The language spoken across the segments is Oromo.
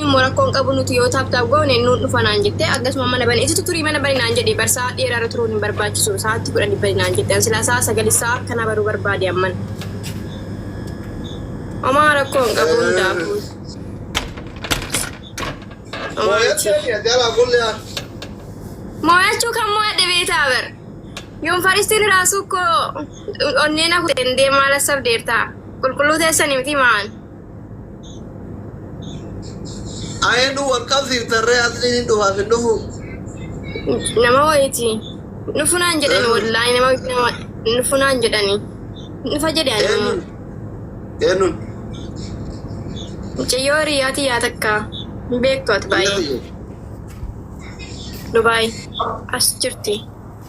Immoo rakkoon qabu nuti yoo taap taap goone nuun dhufa naan jette akkasuma mana bane isitu turii mana bani naan jedhe barsaa dheeraa irra turuun hin barbaachisu sa'aatti kudhan bani naan jette an silaa sa'a sagali sa'a akkana baruu barbaade amman omaa rakkoon qabu hundaafu mooyachuu kan mooyadhe beetaa bar yuunfaristiin raasuu koo onneen hakuteen deemaa lassaf deertaa qulqulluu teessanii miti maan Ayenu wal qabsiiftan ree asliin hin dhufaaf hin dhufu. Nama wayiiti. Nufunaan jedhani Eh. wallaahi nama wayiiti nama nufunaan jedhani. Nufa jedhe ani Eenyuun? immoo. Eenyuun? Mucayyoo hiriyaati yaa takka. Hin beektu ati baay'ee. Dubaay. As jirti.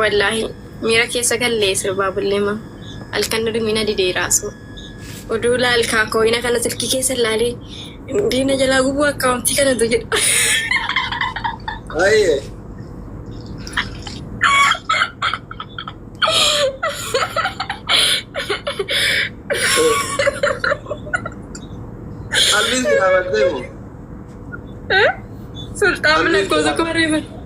Wallaahi miira keessa gallee sirbaa bulleema halkan dhudhumina didee raasuu. Oduu laal kaa kooyina kana silkii keessa laalee diina jalaa gubuu akkaawuntii kana tu jedha. Aye. Qalbiin si dhaabattee moo? Sulxaan lakkoofsa koo reeban.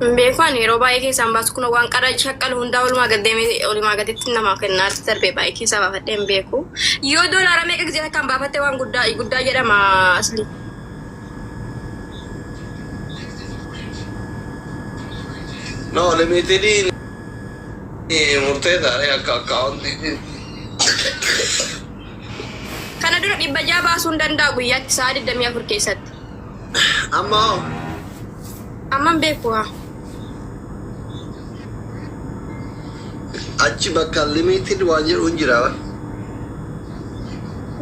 Hin beeku ani yeroo baay'ee keessaan baasu kun waan qara shakkalu hundaa olumaa gad deemee olumaa gaditti namaaf kennaa irratti darbee baay'ee keessaa baafadhee hin beeku. Yoo doolaara meeqa gizee takkaan baafatte waan guddaa guddaa jedhama asli. No, limitediin murteessaadha akka akkaawuntiitiin. Kana dura dhibba ja'a baasuu hin danda'a guyyaatti sa'a 24 keessatti. Amma hoo? Amma hin beeku haa. Achi bakka limited waan jedhu hin jira bar.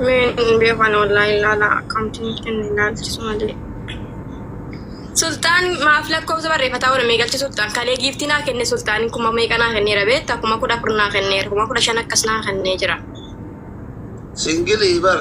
Mee hin beeku ani wallaahi ilaala akkaawuntii nuuf kenna ilaalchisu malee. Sultaan maaf lakkoofsa barreeffataa oole mee galchi sultaan kalee giiftii naa kenne sultaan kuma meeqa naa kenneera beekta kuma kudha afur naa kenneera kuma kudha shan akkas naa kennee jira. Singilii bar.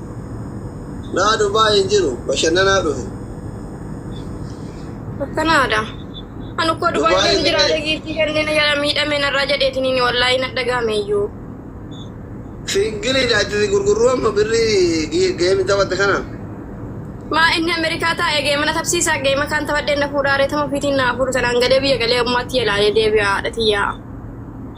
Naa Dubai hin jiru bashannanaa dhufe. Akkanaadha. Ani ukkoo Dubai Dubai keessa jiraate illee- giiftii kennina jala miidhame narraa jedheetiniin wallaahi na dhagaame iyyuu. Singiliidha achi si gurgurru amma birrii gi- geemi taphatte kana. Maa inni Ameerikaa taa'ee geema na tapsiisaa geema kaan taphadhee na fuudhaa reetama ofiitiin na fuudhu sanaan gadee biyya galee ammaatti yalaalee deebi'a haadha tiyyaa.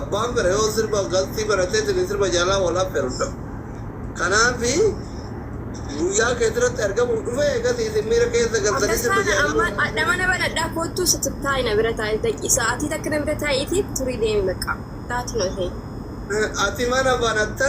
Abbaan fedhe yoo sirba galtii baratee isin sirba jaalaa wal affeeru hin dhabu. Kanaaf guyyaa keetirratti argamuuf dhufee eegas isin miira keessa galtanii sirba Abdasaan jaalaa amma wal adhama na banadhaa koottuu situ taa'i na bira taa'i daqi sa'aatii takka na bira taa'iiti turii deemi bakka taati noo ta'e. Ati mana banatta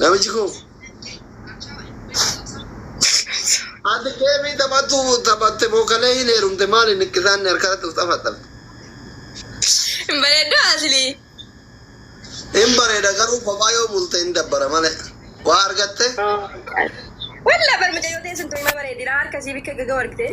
Namichi koo. Ati geemii taphattu taphatte moo kalee hin heerumte maali niqqisaan ni harkarratti of xafaxxafe. Hin bareeddu asli. Hin bareeda garuu kophaa yoo bulte hin dabbara malee. Waa argatte? Walla bar mucayyoo tee sun tuima bareedira harka isii bikka gaga wargitee.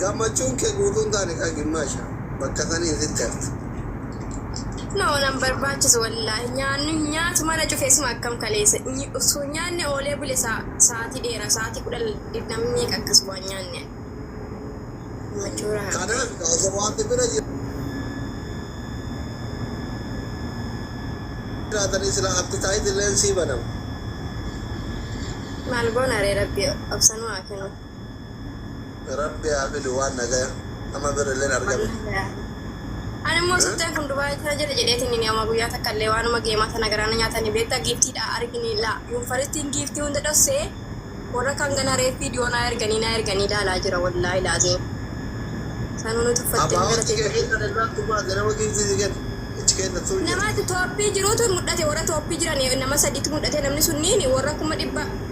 Gammachuun kee guutuu hin taane kaa gimmaasha bakka saniin sitti hafte. No nan barbaachisu wallaahi nyaannu hin nyaatu mana cufee suma akkam kaleessa nyi osoo hin nyaanne oolee bule sa sa'aatii dheeraa sa'aatii kudha namni meeqa akkas waan nyaanne gammachuu irraa hafte. Kanaaf kaa osoo waan si bira jiraatanii silaa appetite illeen sii banama. Maal goona ree rabbi obsa nu haa kenuu. Rabbi haa fidu waan nagaya. Amma birrilleen argame. Ani immoo sittan kun Dubai tana jira jedheetiin inni amma guyyaa takka illee waanuma geemaa tana garaana nyaatanii beektaa giiftiidha argini laa yuunfaristiin giiftii hunda dhossee warra kan gana reeffii dhiyoo naa erganii naa erganii ilaalaa jira wallaahi laaziin sanuu nu tuffattee Abbaa nu hojii galateeffadhe. keessan irraa tumaa ganama giiftii si kenna. Ichi kenna tuu jedha. Nama tooppii jirutu mul'ate warra tooppii jiran nama sadiitu mul'ate namni sunniin warra kuma dhibba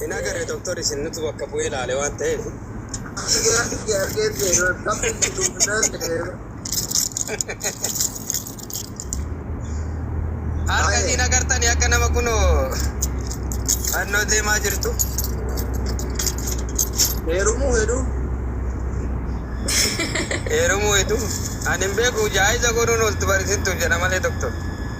Hin agarre doktor isin nutu bakka bu'ee ilaale waan ta'eef. Harka isiin agartani akka nama kunoo fannoo deemaa jirtu. Heerumuu hedduu. Heerumuu hedduu. Ani hin beeku jaayiza godhuun oltu barisistuuf jedha malee doktor.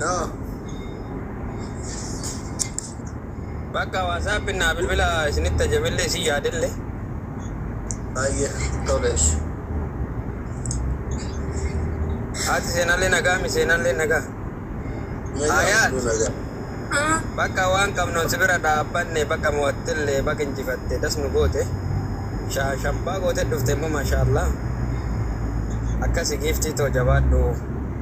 No. Bakka WhatsApp naa bilbila isinitti ajabelle isin yaadelle. Baay'ee tolees. Haati seenallee nagaa mi seenallee nagaa. Nagaa Ayaat. hunduu nagaa. Bakka waan qabnuun si bira dhaabbanne bakka mo'attillee bakka injifatte das nu goote. Shaa shabbaa goote dhufte immoo maashaallah. Akkasi giiftii too jabaadhu.